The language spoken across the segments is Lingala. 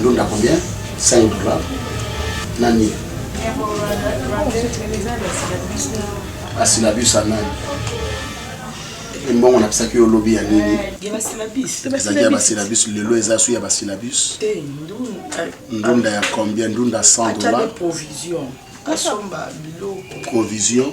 ndunda combien 5 dollars nani asilabus ya nani mbongo napisaki yo lobi ya nini ezali ya basilabus lelo eza su ya basilabus ndunda ya combien ndunda 100 dollars provision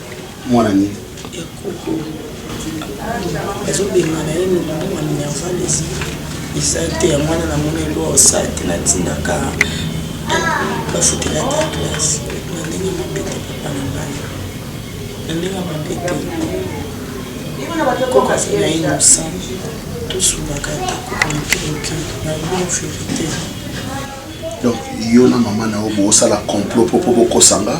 mwana nini ya koko ezobengana ye noboma minerval ezi eza te ya mwana na mona elwa osala te natindaka bafutela ta classe na ndenge mabe te papa na ngai na ndenge mabe te koko aza na innocent tosungaka ata koko mokemoke na bon verité donc yo na mama na yo bosala complot mpo mpo bokosanga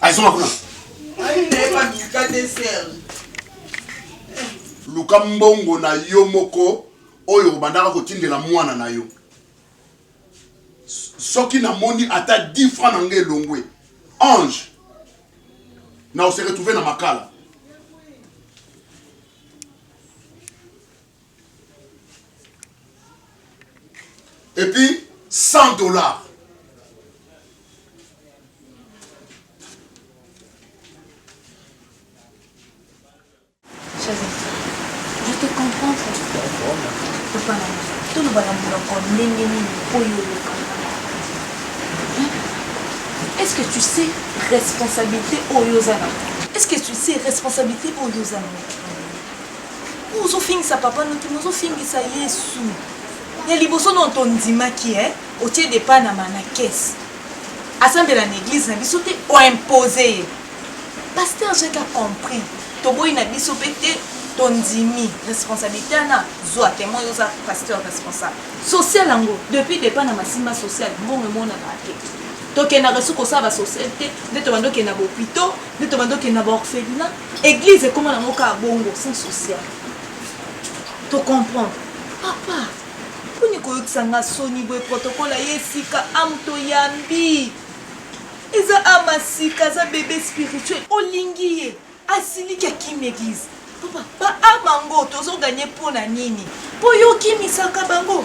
azonga kuna luka mbongo na yo moko oyo obandaka kotindela mwana na yo soki namoni ata 10 franc na ngai elongwe ange na ose retrouve na makala et puis 100 dollars tolobaka monoko ndenge nini oyo olekaka est ce que tu sais responsabilité oyo oza na est ce que tu sais responsabilité oyo oza na ozofingisa papa no te mais ozofingisa yesu ya liboso nao tondimaki e otie depa na mana kese asambela na eglize na biso te oimpose ye paster jaka compris toboyi na biso mpe te tondimi responsabilité wana zwa temo yo oza pasteur responsable social yango depuis depa na masimba social mbongo emonaka te tokendaka esu kosala basocial te nde tobanda okenda bopito nde tobanda okenda baorphelina Eglise ekoma na ngo kaka bongo sans social. To comprendre. Papa, poni koyokisa nga soni boye protocole aye esika am toyambi. Eza ama sika aza bebe spirituel olingi ye asiliki akimi eglise. Papa, ba ama ngo tozo gagner mpo na nini? Mpo yo okimisaka bango.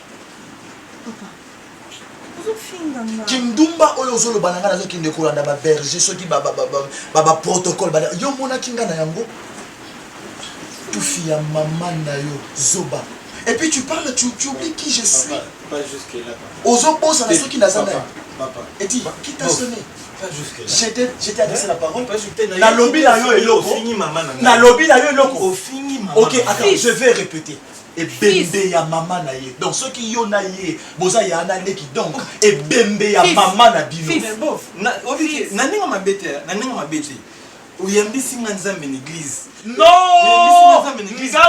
kindumba oyo ozoloba na ngai nazokende kolanda baberge soki baprotocole yo omonaki ngai na yango tufi ya mama na yo zoba et puis tu parles tu, tu oublies qui je suis ozobosana soki naza nani eti kita sone j'étais adressé la parole nalobi na yo eloko nalobi na yo eloko ok attends je vais répéter ebembe ya mama na ye donc soki yo na ye boza ya na leki donc ebembe ya mama na bino na ndenge mabe te na ndenge mabe te oyambisi nga nzambe na eglise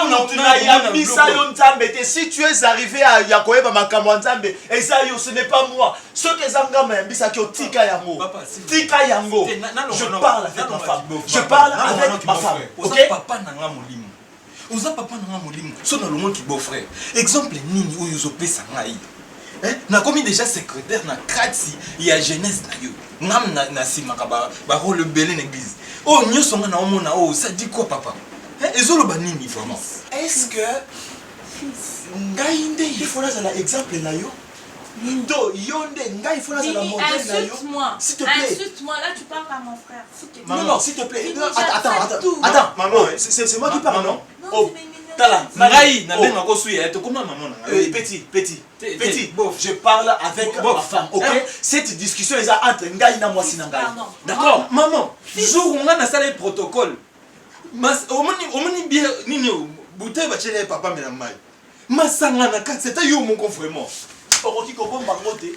nonayambisa yo nzambe te si tu es arrivé ya koyeba makambo ya nzambe eza yo ce n'est pas moi soki eza nga mayambisaki otika yango tika yango je parle avec ma femme je parle avec ma femme ok oza papa na nga molimo so nalongoki beau frère exemple nini oyo ozopesa ngai eh? nakomi déjà secrétaire na kati ya jeunesse na yo ngam na, na simaka ba, ba role ebele na église oyo oh, nyonso nga naomona oyo oh, ça dit quoi papa eh? ezoloba nini vraiment est ce que ngai nde il faut nazala exemple na yo Indo, Yonde, Ngai, il faut la modèle. Insulte-moi. Insulte-moi, là tu parles à mon frère. Non, non, s'il te plaît. Non, attends, attends, attends. Attends, maman, c'est moi qui parle, non Oh, tala, ngai, na benga ko suya, to koma maman na ngai. Petit, petit. Petit, je parle avec ma femme, OK Cette discussion est entre ngai na mwasi na ngai. D'accord Maman, jour nga na sala protocole. Mas omoni omoni bien nini bouteille ba chere papa mela mai. Masanga na kati, c'est yo moko vraiment. Okoki kobomba ngote.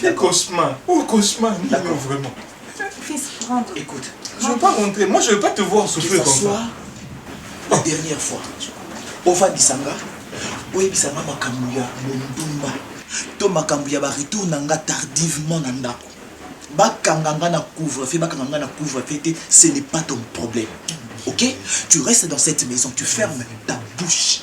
Quel cauchemar Oh, cauchemar nini oyo vraiment Fils, rentre. Écoute, Je veux pas rentrer, moi je veux pas te voir que souffrir ça comme soit ça. la dernière fois ofandisa nga oyebisa nga makambo ya mondumba to makambo ya baretour na nga tardivement na ndako bakanga nga na couvre fe bakanga nga na couvre fe te ce n'est pas ton problème ok tu restes dans cette maison tu fermes ta bouche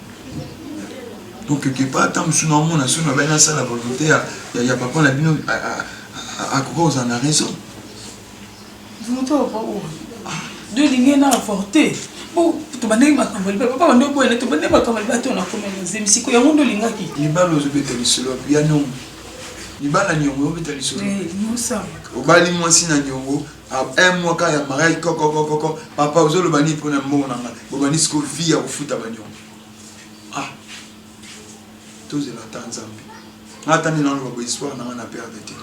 okeke pa ata mosusu na omona soki nabai nasala volonté ya papa na bino akoki kozala na raison volonté ya papa oyo de lingi na avorte tobandaki makambo ya libala papa bando oboyana tobandaki makambo ya libala to nakomi na zemi siko yango nde olingaki libala ozobeta lisolo ya niongo libala niongo obeta lisolo eh, obali mwasi na niongo Ah, un mois kaka ya mariage kokokokoko papa ozoloba nini mpo na mbongo na ngai bobandi siko vie ya kofuta banyongo ah tozela ata nzambe nga ata nde naloba bo histoire na ngai na perde te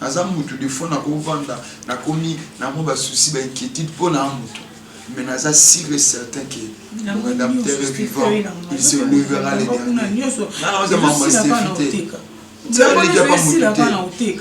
naza mutu de fois nakovanda nakomi na mwa basusi bainquiétude mpo na motu mais naza sûr et certain que mon rédempteur est vivant il se levera le dernier nanaoza mama stefi te nzambe leki apa motu te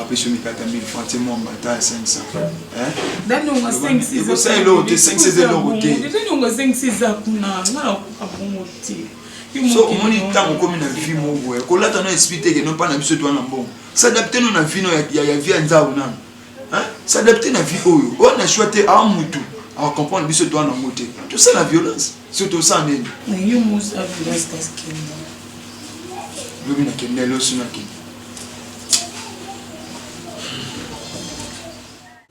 apesi mikate ya 1000 francs te mwa mbata ya 500 daniongo asengisi ekosala eloko te esengisi eza eloko te daniongo asengisi eza kuna nga nakoka bongo te so omoni ntango okomi na vie moko boye kolata no esprit teke no mpa na biso twana mbongo s'adapte no na vie no ya vie ya nzau nano s'adapte na vie oyo oyo na choix te a mutu acomprendre biso twana yango te tosala violence so tosala nini lobi nakende losi nakende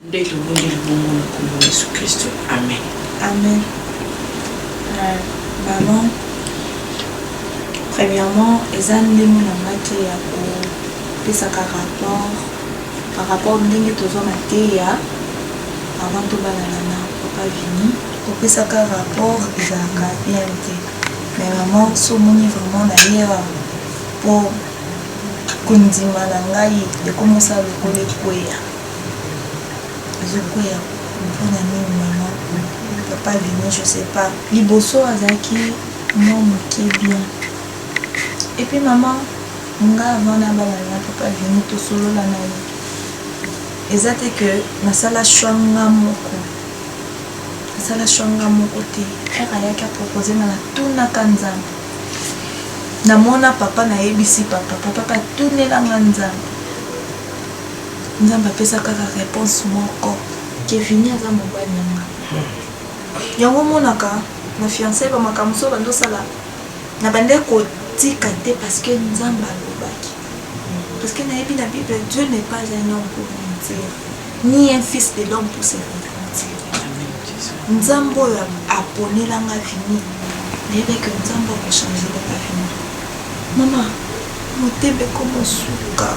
Nde tobondeli bongo na kombo na Yesu Klisto, amene. Amen. Euh, maman, premièrement, eza ndenge na nga te ya kopesaka rapport par rapport ndenge tozwa mateya avant tobalana na papa vini kopesaka rapport ezalaka bien te mais maman so omoni vraiment na ye awa po Kondima na ngai ekomosala lokola ekweya. Ezokweya mpona nini maman? Papa Vinny je sais pas. Liboso azalaki mwa moke bien. Et puis maman, nga avant nabalana na papa Vinny tosolola na ye. Eza te que nasala choix nga moko. Nasala choix nga moko te. Heure ayaki a proposer nga natunaka Nzambe. na mona papa na yebisi papa papa pa tunela nga nzambe nzambe apesa kaka reponse moko kevini aza mobali na nga yango omonaka na fiançai bamakambo so bandosala na bande kotika te parce que nzambe alobaki parce que nayebi na bible dieu n'est pas un homme pour mentir ni un fils de l'homme pour se repentir nzambe oyo aponela nga vini nayebi ke nzambe akochangele nga vini mama motema ekomosuka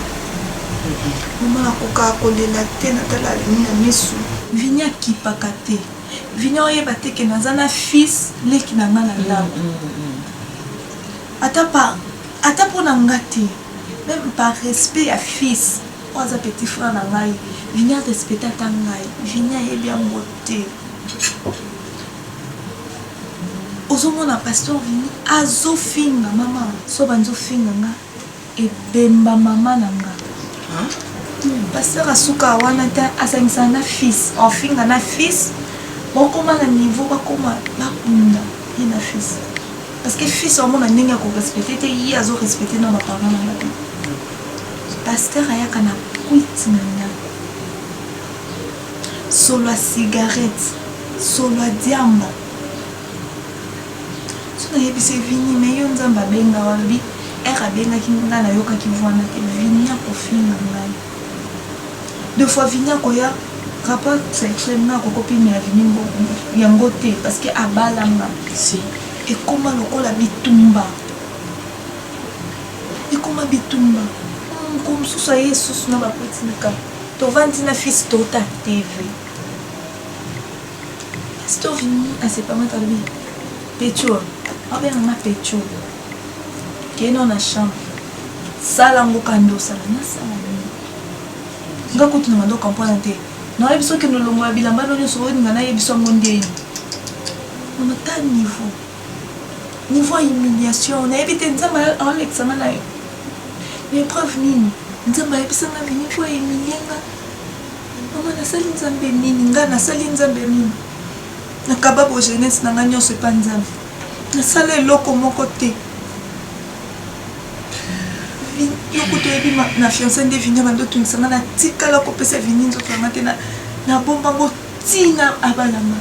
mama nakokaka kolela te natala vini na misu vini akipaka te vini oyeba te ke naza na fils leki na nga na ndako mm, mm, mm, ata pa ata mpo na nga te meme par respect ya fils Oyo aza petit frère na ngai vinny a respecte ata ngai vinny ayebi yango te ozomona pasteur vinny azofinga mama so banzofinga nga ebemba mama na nga pasteur asuka wana te asangisana na fils ofinga na fils bakoma na niveau bakoma bakunda ye na fils parce que fils amona ndenge ya korespecte te ye azorespecte na baparent na bato Pasteur ayaka na kwiti na ndaku solo ya cigarette solo ya diamba soki na yebise vini mais yo nzambe abenga yo alobi heure abengaki nga na yokaki voix na te vini ako finga ngai deux fois vini akoya rapport sexuel nga ako kopima ya vini yango te parce que abala nga si ekoma lokola bitumba ekoma bitumba mokolo mosusu aye esusu na bakuti likambo tovandi na fils tota tv pasteur vini asepamaka lobi pecho abenganga pecho keno na chambre sala yango kanda osala nasala nini nga kutu na mandoka mpona te nayebi soki nolongola bilamba no nyonso olinga nayebi so yango ndeni mama ta niveau Niveau ya humiliation nayebi te nzambe aolekisa nga nayo na epreuve nini nzambe ayebisa nga nini po ahumilie nga mama nasali nzambe nini nga nasali nzambe nini nakaba bo jeunesse na nga nyonso epa nzambe nasala eloko moko te yo kutu oyebi na fiance nde vinia bando otungisa nga natikala kopesa vini nzoto yanga te nabombango Tina abalama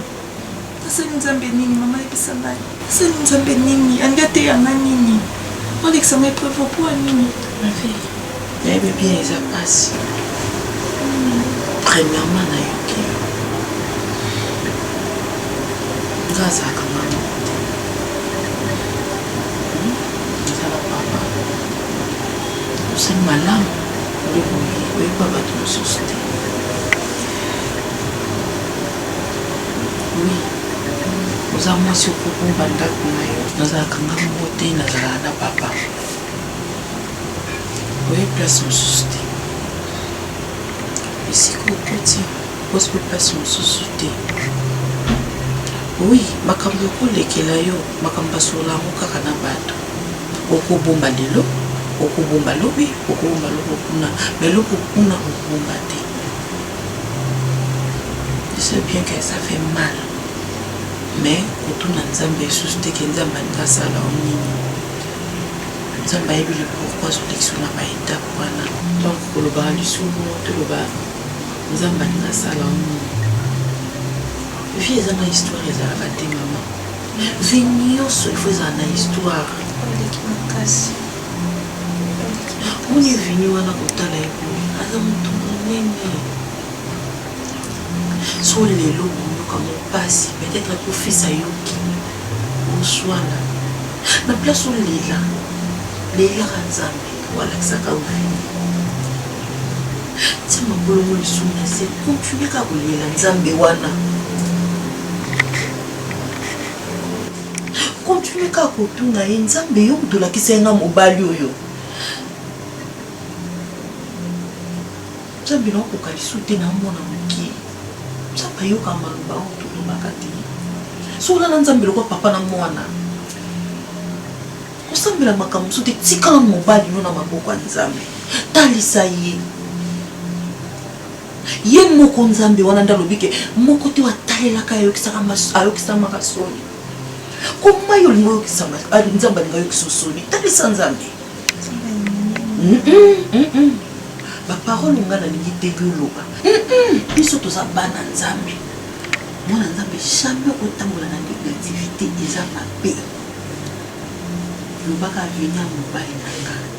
nasali nzambe nini mama yebisa ngai nasali nzambe nini alingi ateya nga nini olekisa nga epreuve opua nini ma vie nayebi bien eza pasi premièrement nayoki yo nga azalaka mama ezala papa osali malamu nde boye oyeba bato mosusu te Oui. Oza mwasi okobomba ndako na yo. Nazalaka nga moko te, nazalaka na papa. Oye place mosusu te. Esika okoti, okosi pe place mosusu te. Oui, makambo ekolekela yo, makambo basolola yango kaka na bato. Okobomba lelo, okobomba lobi, okobomba loko kuna, mais loko kuna okobomba te. Je sais bien que ça fait mal mais kotuna nzambe lisusu te ke nzambe alingi asala o nini nzambe ayebi le pourkui azolekisa na baetape wana donc kolobaka lisusu toloba nzambe alingi asala o nini vie eza na histoire ezalaka te mama vie nyonso ifo ezala na histoire Omoni Vini wana kotala ye boye aza moto monene so lelo boyoka mopasi peut-être po fils ayoki oswana na place olela lelaka nzambe walakisaka ovini tia mabolongo lisumu na se continue kaka kolela nzambe wana Continue kaka kotuna ye nzambe yo mutu olakisaki nga mobali oyo nzambe naokoka lisu te naomona mokie nzambe ayokaka maloba oyo tolobaka te so olala nzambe lokwa papa na mwana kosambela makambo mosusu te tikala mobali no na maboko ya nzambe talisa ye Ye moko Nzambe wana nde alobi ke moko te oyo atalelaka ye ayokisamaka soni. Koma yo olingi oyokisama, Nzambe alingi ayokisa yo soni? Talisa Nzambe. Ba parole nga nalingi te yoloba. Biso toza bana Nzambe. Mwana Nzambe jamais okotambola na negativite eza mabe. Lobaka avenir mobali na nga.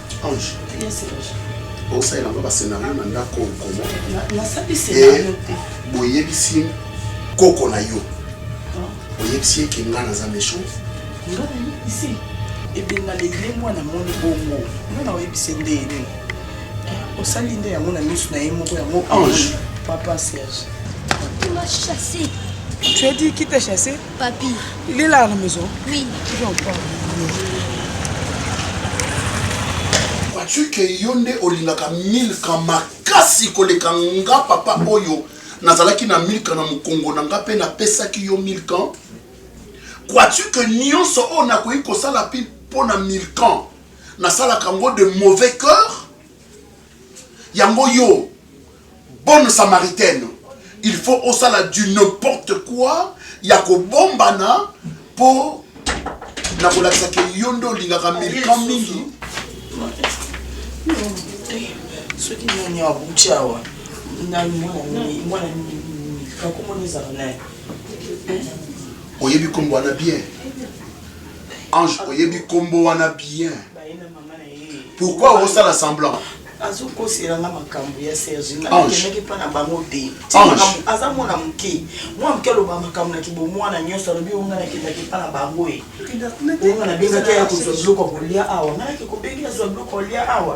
Ange. Yes, Serge. osalela nga bascenario na ndako okomo boyebisi koko na yo oyebisi ye ke ngai naza méchant nga nayebisi ebenga legle mwana moni bongo nga na oyebisi nde ye nini osali nde yango na miso na ye moko yango ange papa serge tu as dit qui t'a chassé Papi. Il est là à la maison Oui. Je en parle. Vois-tu que yo nde olingaka milka makasi koleka nga papa oyo nazalaki na milka na mokongo na nga mpe napesaki yo milka crois-tu que nyonso oyo nakoki kosala mpe mpo na milkan nasalaka yango de mauvais cœur yango yo bonne samaritaine il faut osala du n'importe quoi ya kobombana mpo na kolakisa ke yo nde olingaka milkan mingi soki nani abuti awa mwana milkan komona ezala naye oyebi nkombo wana bien ange oyebi nkombo wana bien pourquoi osala semblant azokosela nga makambo ya serge nga nakendaki mpa na bango te aza mwana moke mwana moke aloba makambo na kibomwana nyonso alobi oyo nga nakendaki mpa na bango e oyo nga nabengaki aya kozwa biloko ya kolia awa nga nake kobengeli azwa biloko ya kolia awa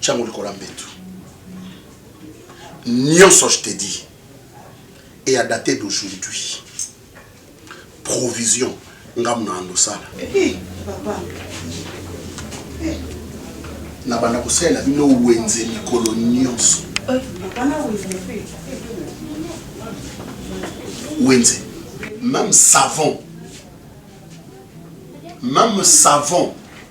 tia yango likolo ya mbetu nyonso je te dis et à dater d'aujourd'hui provision ngambo na andosala eh, eh, na banda kosalela bino wenze mikolo nyonso eh, wenze même savon même savon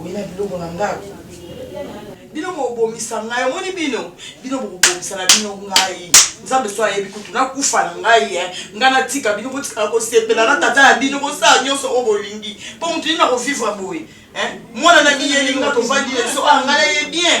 Oye na biloko na ndako bino bobomisa ngai omoni bino bino bokobomisa na bino ngai nzambe so ayebi kutu nakufa na ngai e ngai natika bino botikala kosepela na tata ya bino bosala nyonso oyo bolingi mpo moto nini nakovivre boye mwana na miyeli nga tovandi na biso oyo ah, ngai naye bien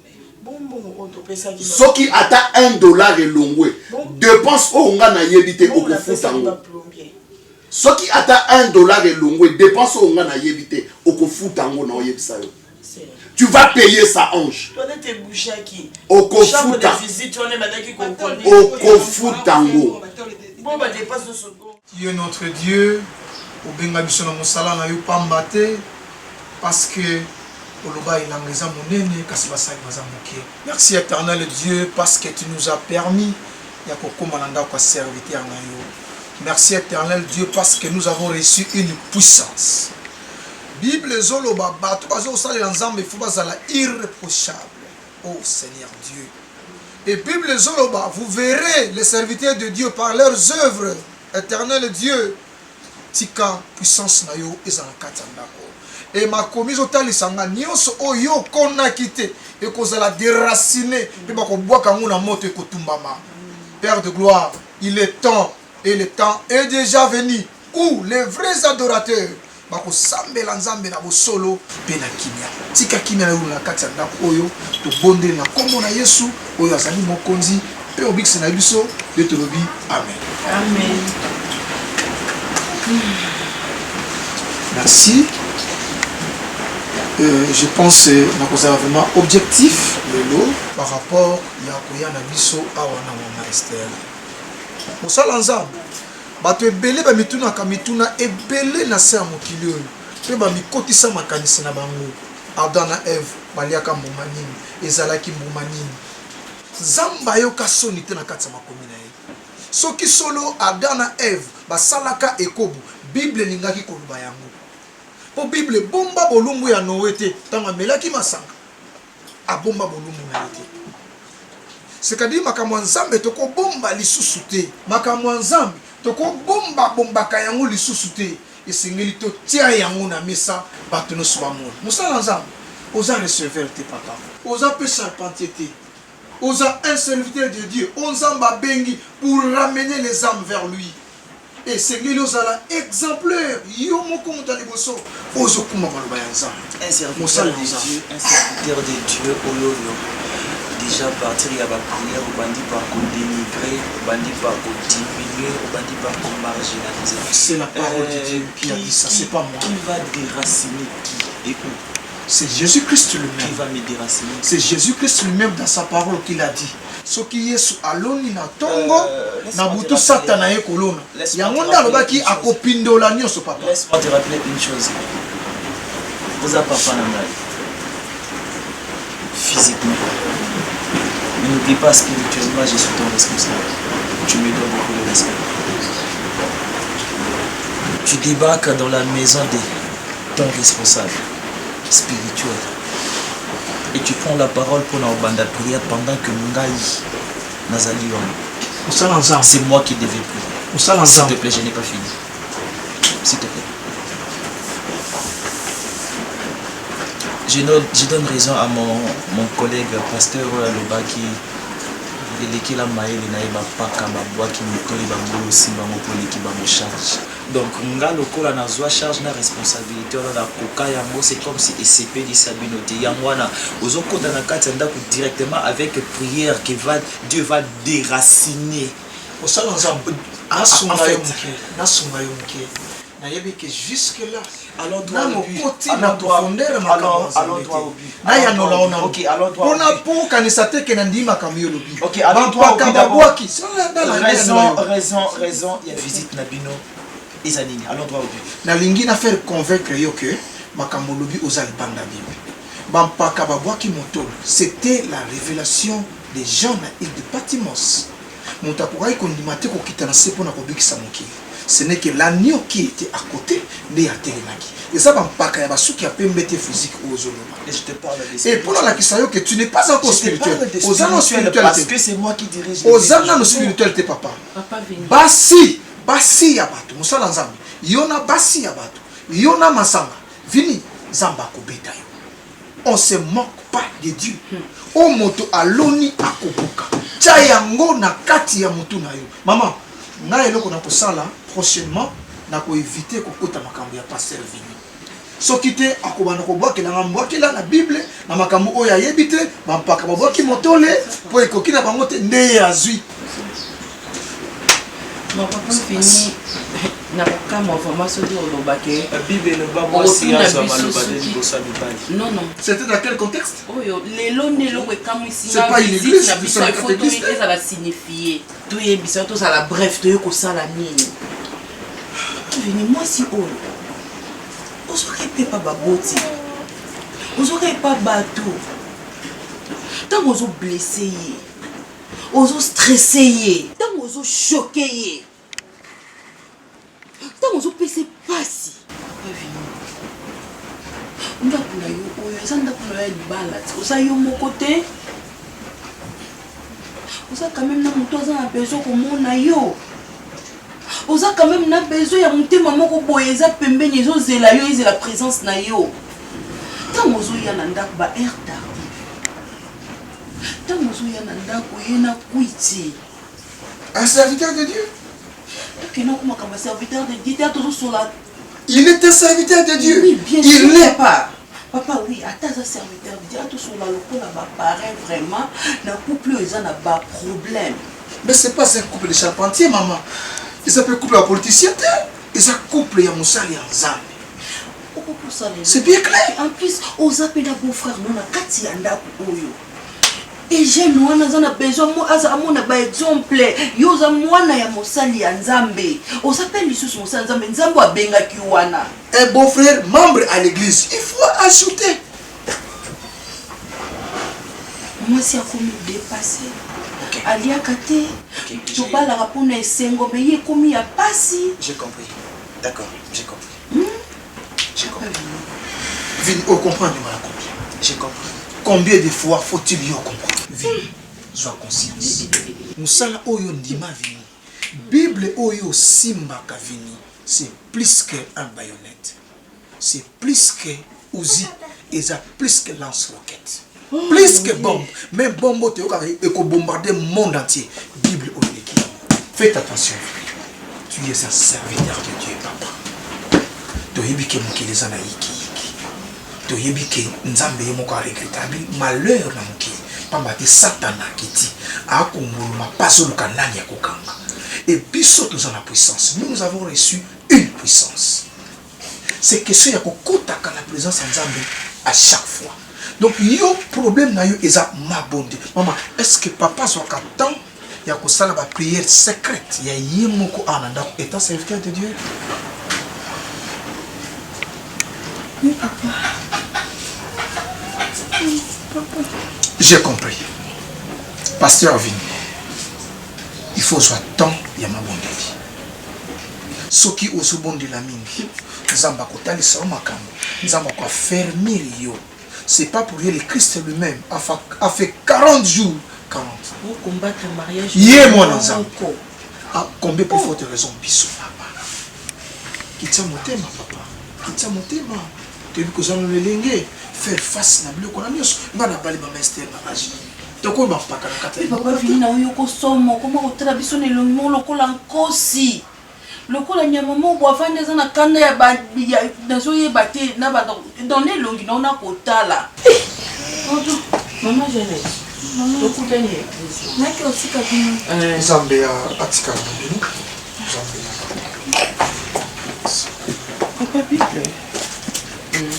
soki ata un dollar elongwe depense oyo nga nayebi te okofuta yango soki ata un dollar elongwe depense oyo nga nayebi te okofuta yango na oyebisa yo tu vas payer ça ange okofuta okofuta yango Yo notre Dieu obenga biso na mosala na yo pamba te parce que oloba elanga eza monene kasi basali baza muke. Merci eternel Dieu parce que tu nous as permis ya kokoma na ndako ya serviteur na yo. Merci eternel Dieu parce que nous avons reçu une puissance. Bible ezoloba bato bazo kosalela Nzambe il faut bazala irreprochable. Oh seigneur Dieu et bible ezo loba vous verrez les serviteurs de Dieu par leurs oeuvres eternel Dieu tika puissance na yo eza na kati ya ndako et makomi ezo talisa nga nionso oyo yo okonaki te ekozala deracine pe bakobwaka yango na moto ekotumbama père de gloire il est temps Et le temps est dejà venu où les vrais adorateurs bakosambela Nzambe na bosolo mpe na kimia. Tika kimia eula na kati ya ndako oyo. Tobondeli na nkombo na Yesu oyo azali Mokonzi mpe Mobikisi na biso, nde tolobi amen. Amen. Merci. Euh, je pense euh, nakozala vraiment objectif lelo par rapport ya koya na biso awa na mama Esther. Mosala ya Nzambe. Bato ebele bamitunaka mituna ebele na se ya mokili oyo mpe bamikotisa makanisi na bango. Adam na Eve baliaka mbuma nini? Ezalaki mbuma nini? Nzambe ayoka soni te na kati ya makomi na ye? Soki solo Adam na Eve basalaka ekobo, Bible elingaki koloba yango. Mpo Bible ebomba bolumbu ya Noe te ntango amelaki masanga. abomba bolumbu na ye te. Sekadiri makambo ya Nzambe tokobomba lisusu te. Makambo ya Nzambe tokobomba bombaka yango lisusu te. Esengeli totia yango na mesa bato nioso bamona. Mosala ya Nzambe oza receveur te papa. Oza pe charpentier te. Oza un serviteur de Dieu oyo Nzambe abengi pour ramener les ames vers lui. Esengeli ozala exemplaire yo moko moto ya liboso ozo kumba maloba ya Nzambe. Un serviteur de Dieu, un serviteur de Dieu oyoyo dejà partir ya ba prière obandi par ko denigrer, obandi par ko diminuer, obandi par ko marginaliser. C'est la parole de Dieu qui a dit ça, c'est pas moi. Qui va déraciner qui et où? C'est Jésus-Christ lui-même. Qui va me déraciner? C'est Jésus-Christ lui-même dans sa parole qu'il a dit. Soki Yesu aloni na ntongo, euh, na butu Satana aye kolona. Yango nde alobaki akopindola nyonso, papa. Laisse-moi te rappeler une chose. Oza papa na ngai. Physiquement. Mais n'oublie pas spirituellement, je suis ton responsable. Tu me dois beaucoup de respect. Tu débarques dans la maison de ton responsable spirituel. et tu prends la parole pour na obanda prière pendant que ngai nazali wana osala nzambe c'est moi qui devais prier osala nzambe s'il te plaît je n'ai pas fini s'il te plaît je donne, je donne raison à mon, mon collègue pasteur Aloba qui elekela mayele na ye bapaka babwaki mitoli bango osimba moko eleki bango charge Donc nga lokola na zua charge na responsabilite wana na koka yango c'est comme si esepelisa bino te yango wana ozo kota na kati ya ndaku directement avec prière que va Dieu va deraciner Osala nzambe nasunga yo muke nasunga yo muke nayebi que jusque là nakokoti na profondeur ya makambo mazambe te nayanola ona mpo nakokanisa te ke nandimi makambo yo olobi bampaka babwaki raison ya visite na bino eza nini nalingi na faire convaincre yo ke makambo olobi oza libanda bible bampaka babwaki motolo c'était la révélation des gens na ile de patimos Moto akokaki kondima te kokita na se mpo na kobikisa mokili. Ce n'est que l'agneau qui etait à cote nde atelemaki. Eza ba mpaka ya ba suki ya pembe te physique oyo ozo loba. Et je te parle de spirituel. Et mpo nalakisa yo que tu n'es pas encore spirituel. Oza nanu spirituel te. Parce que c'est moi qui dirige les Oza nanu spirituel te papa. Basi, basi ya bato, mosala Nzambe. Yo na basi ya bato, yo na masanga. Vini, Nzambe akobeta yo. On se moque pas de Dieu. Oyo moto aloni akobuka. Tia yango na kati ya mutu na yo. Maman, nga eloko na kosala prochainement na ko eviter kokota makambo ya pasteur Vinny. Soki te akobanda kobwakela nga mbwakela na bible na makambo oyo ayebi te, ba mpaka babwaki motole po ekoki na bango te nde ye azui na kokamwa vraimen soki oloba ke c'était à quel contexte oyo lelo nde eloko ekamwisi ngavisite na biso ifo ezala signifie toyebisa tozala bref toye kosala nini vini mwasi oyo ozwaka epe pa baboti ozwaka epa bato ntango ozoblesse ye ozo stresse ye ntango ozo choke ye ntango ozopesa mpasi ndako na yo oyo eza ndako na yo ya libala te oza yo moko te oza quand même na moto aza na besoin komona yo oza quand même na besoin ya motema moko boye eza pembeni ezozela yo ezela présence na yo ntango ozoya na ndako ba air tard Tango ozo ya na ndako ye na kwiti. Un serviteur de Dieu? Tokende ko makambo ya serviteur de Dieu te tozo sola. Il est un serviteur de Dieu. Oui, bien sûr. Il n'est pas. Papa oui, ata aza serviteur de Dieu, ato sola lokola ba parents vraiment na couple oyo eza na ba problème. Mais c'est pas un couple de charpentier maman. Ils appellent couple ya politicien te. Eza couple ya mosali ya Nzambe. C'est bien clair. En plus, aux appels de beau frère, mon akati ya ndako oyo. Et j'ai moi, nous a besoin, moi, aza amona ba exemple. Yo za mwana ya mosali ya Nzambe. Aux appels lisusu mosali Nzambe, Nzambe abenga ki wana. Un eh, beau frère membre à l'église, il faut ajouter. Moi si akomi dépasser. Okay. Aliaka te. Okay. Tobalaka mpona esengo, mais ye ekomi ya pasi. J'ai compris. D'accord, j'ai compris. Je comprends. Vini, o comprendre mala combien? Je comprends. Combien de fois faut-il yo comprendre? Vini, zwa conscience. Musala oyo ndima Vini. Bible oyo simbaka Vini, c'est plus que un baïonnette. C'est plus que Uzi, eza plus que lance roquette. Plus que bombe. Mais bombe oyo toyokaka eko bombarder monde entier. Bible oyo eleki yango. Faites attention. Tu es un serviteur de Dieu, papa. Toyebi ke mokili eza na yiki yiki. Toyebi ke Nzambe ye moko a regrettable malheur na mokili. Pamba te Satana akiti akongoloma pazoluka nani ya kokanga. Et biso toza na puissance. Nous, nous avons reçu une puissance. C'est question ya ko kotaka na presence ya Nzambe à chaque fois. Donc yo problème na yo eza mabonde. Maman, est-ce que papa azwaka temps ya kosala ba prière secrète ya ye moko awa na ndako étant serviteur de Dieu? Oui, papa. Oui, papa. J'ai compris. Pasteur Vini, il faut soit temps ya mabondeli. Soki ozo bondela mingi nzambe ako talisa yo makambu nzambe ako affermir yo c'est pas pour rien le christ lui meme a fait 40 jours 40 pour combattre mariage ye mwana nzambe a combien plus forte raison biso papa kitisa motema papa kitisa motema toyebi kozala na lelenge faire face na biloko na nyonso ngai nabali mama ester na age tokoyo bampaka na kati papa vini na oyo okosoma okoma kotala biso na elongi moko lokola nkosi lokola nyama moko bo avandi aza na kanda ya nazoyeba te na banda dans na elongi nao na kotala eh, mama jeanete tokutani naki otika bino eh. nzambe ya atikala na bino nzambe ya papa bible hmm.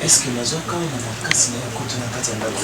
eske nazwaka na makasi na ye kutu na kati ya ndako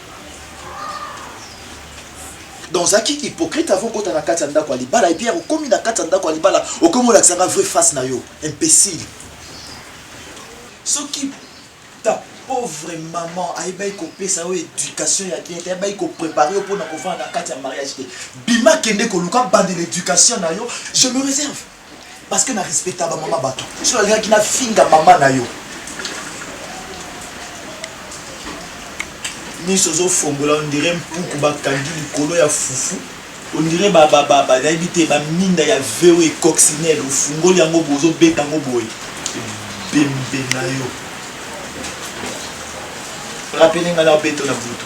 donc ozalaki hypocrite avant okota na kati ya ndako ya libala epuis ya kokomi na kati ya ndako ya libala okomi olakisanga vrai face na yo imbécile soki ta pauvre maman ayebaki kopesa yo éducation ya bien te ayebaki koprépare yo mpona kofanda na kati ya mariage te bima kende koluka bandela éducation na yo je me réserve Parce que na respecta ba mama batu. Soki nalingaki na finga mama na yo. Miso zo fongola on dirait mpuku ba kangi likolo ya fufu. On dirait ba ba ba ba nayebi te ba minda ya VO et coccinelle ofungoli yango bozo beta yango boye. Bembe na yo. Rappeler nga na beto na butu.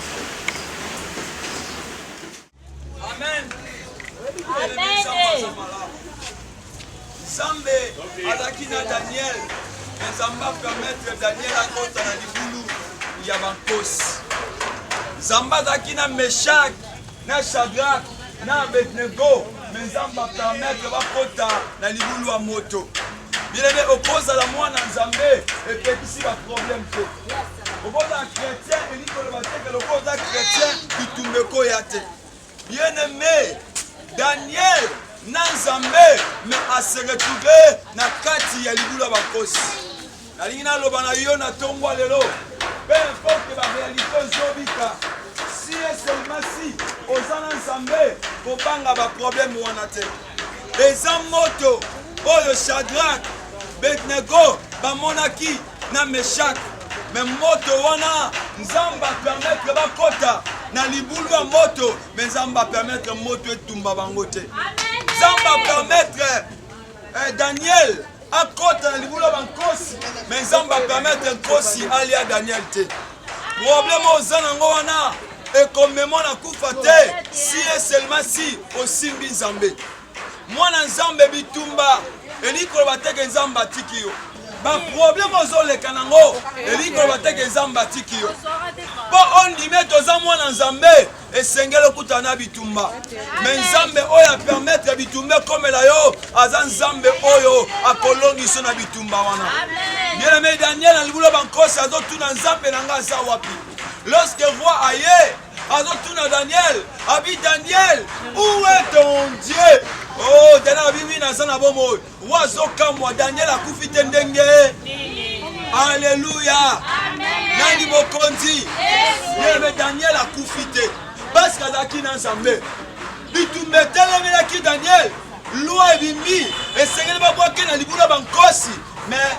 nzambe azalaki na daniel me nzambe apermetre daniel akota na libulu ya bankosi nzambe azalaki na meshake na Shadrach na Abednego me Nzambe apermetre bakota na libulu ya moto. Bilenge, okozala mwana Nzambe epekisi baproblème te. Okozala chrétien elingi koloba te ke lokola oza chrétien bitumba ekoya te. Bien aimé, Daniel na Nzambe me aseretrouve na kati ya libulu ya bakosi. Nalingi naloba na yo na ntongo ya lelo, peu importe ba realite ozobika, si et seulement si oza na Nzambe, kobanga ba problème wana te. Eza moto oyo Shadrach, Abednego bamonaki na Meshach, me moto wana Nzambe apermettre bakota na libulu ya moto, me Nzambe apermettre moto etumba bango te. Nzambe apermettre Eh, Daniel akota na libulu ya bankosi me nzambe apermetre nkosi alia daniel te probleme oza nango wana ekomema na kufa te si e seulement si osimbi nzambe mwana nzambe bitumba elingi koloba teke nzambe atiki yo baprobleme ozoleka nango elingi koloba teke nzambe atiki yo mpo ondimi ete oza mwana nzambe esengeli okutana na bitumba me nzambe oyo apermetre bitumba ekomela yo aza nzambe oyo akolongiso na bitumba wana bieneme daniel na libulu ya bankosi azotuna nzambe na ngai aza wapi lorsque roi aye azotuna daniel abi daniel où est ton dieu oh daniel abi wi naza na bomoi Wazo kamwa Daniel akufi te ndenge. Alléluia. Nani mokonzi? Yeme Daniel akufi te. Parce que azalaki na Nzambe. Bitumba etelemelaki Daniel. Loi ebimi esengeli babwake na libula bankosi mais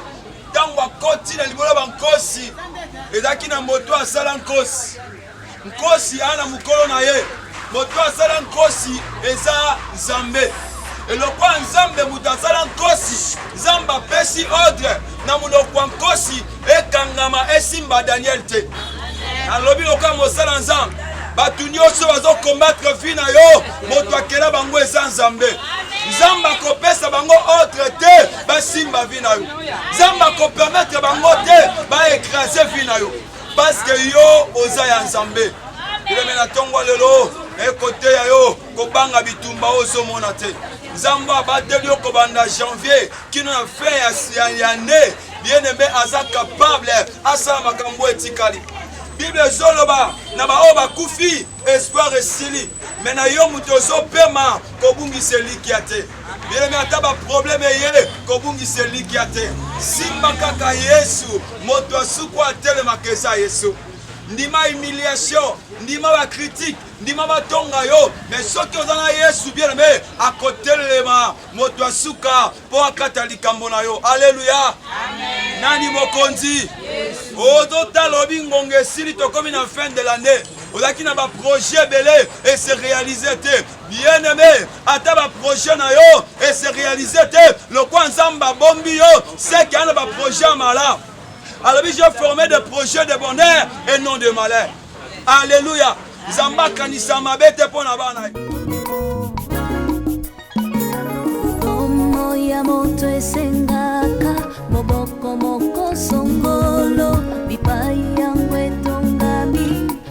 ntango akoti na libolo ya bankosi ezalaki na moto asala nkosi Nkosi aa na mokolo na ye, moto asala nkosi eza Nzambe. Elokwa Nzambe moto asala nkosi, Nzambe apesi ordre na monoko ya nkosi ekangama esimba Daniel te. Nalobi lokola mosala Nzambe, bato nyonso bazokombatre vi na yo, moto akela bango eza Nzambe. nzambe akopesa bango ordre te basimba vi na yo nzambe akopermetre bango te baekrase vi na yo Parce que yo oza ya Nzambe. Bileme na tongo lelo ekoteya yo kobanga bitumba oyo ozomona te. Nzambe abateli yo kobanda janvier kino na fin ya, ya ne bien-aime aza capable asala makambo etikali. Bible ezoloba na baoyo bakufi espoir esili, me na yo moto ozopema kobungisa elikya te. Yelemi ata baprobleme eye kobungisa elikya te, simba kaka Yesu, moto asuku atelemaka eza Yesu. Ndima humiliation, ndima bakritike, ndima batonga yo, me soki oza na Yesu bien aime, akotelema moto ya suka mpo akata likambo na yo. Aleluya! Nani mokonzi? Ozotala oh, lobi ngonga esili, tokomi na fin de l'annee, ozalaki na baprojet ebele ese realize te Bien aime, ata ba projet na yo e se realiser te, lokwa Nzambe abombi yo, seke ana ba projet ya malamu. alobi je forme de projet de bonheur et non de malheur alleluya nzambe akanisa mabe te mpo na bana ye ya moto esengaka moboko moko songolo bipai